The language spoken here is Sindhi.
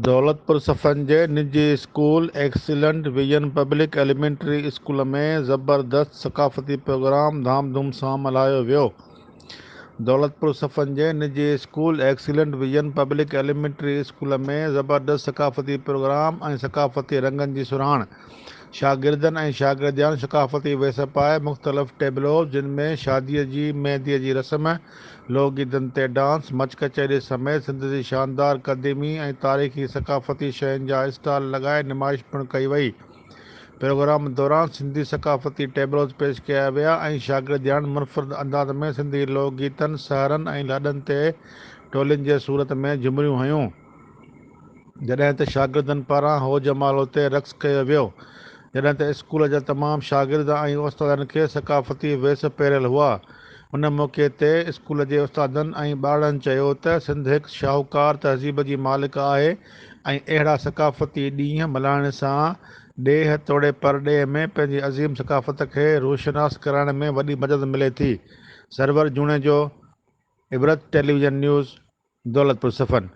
دولتپور صفن جي نجي school excellent vision public elementary school ۾ زبردست ثقافتي پروگرام ڌام ڌوم سان ملهايو ويو دولتپور صفن جي نجي school excellent vision public elementary school ۾ زبردست ثقافتي پروگرام ۽ ثقافتي رنگن جي سرهاڻ، شاگردن ۽ شاگردياڻين ثقافتي ويس پائي مختلف ٽيبلوز جن ۾ شاديء جي مينديء جي رسم، لوڪ گيتن تي ڊانس، مچ ڪچهري سميت سنڌ جي شاندار قديمي ۽ تاريخي ثقافتي شين جا اسٽال لڳائي نمائش پڻ ڪئي وئي. پروگرام دوران سنڌي ثقافتي ٽيبلوز پيش ڪيا ويا ۽ شاگردياڻين منفرد انداز ۾ سنڌي لوڪ گيتن، سحرن ۽ لاڏن تي ٽولين جي صورت ۾ جهومريون هنيون، جڏهن ته شاگردن پاران هو جمالو تي رقص ڪيو ويو، جڏهن ته اسڪول جا تمام شاگرد ۽ استادن کي ثقافتي ويس پهريل هئا. ان موقعي تي اسڪول جي استادن ۽ ٻارڙن چيو ته سنڌ هڪ شاهوڪار تهذيب جي مالڪ آهي، ۽ اهڙا ثقافتي ڏينهن ملهائڻ سان ڏيهه توڙي پرڏيهه ۾ پنهنجي عظيم ثقافت کي روشناس ڪرائڻ ۾ وڏي مدد ملي ٿي. سرور جوڻيجو، عبرت ٽيليويزن نيوز، دولتپور صفن.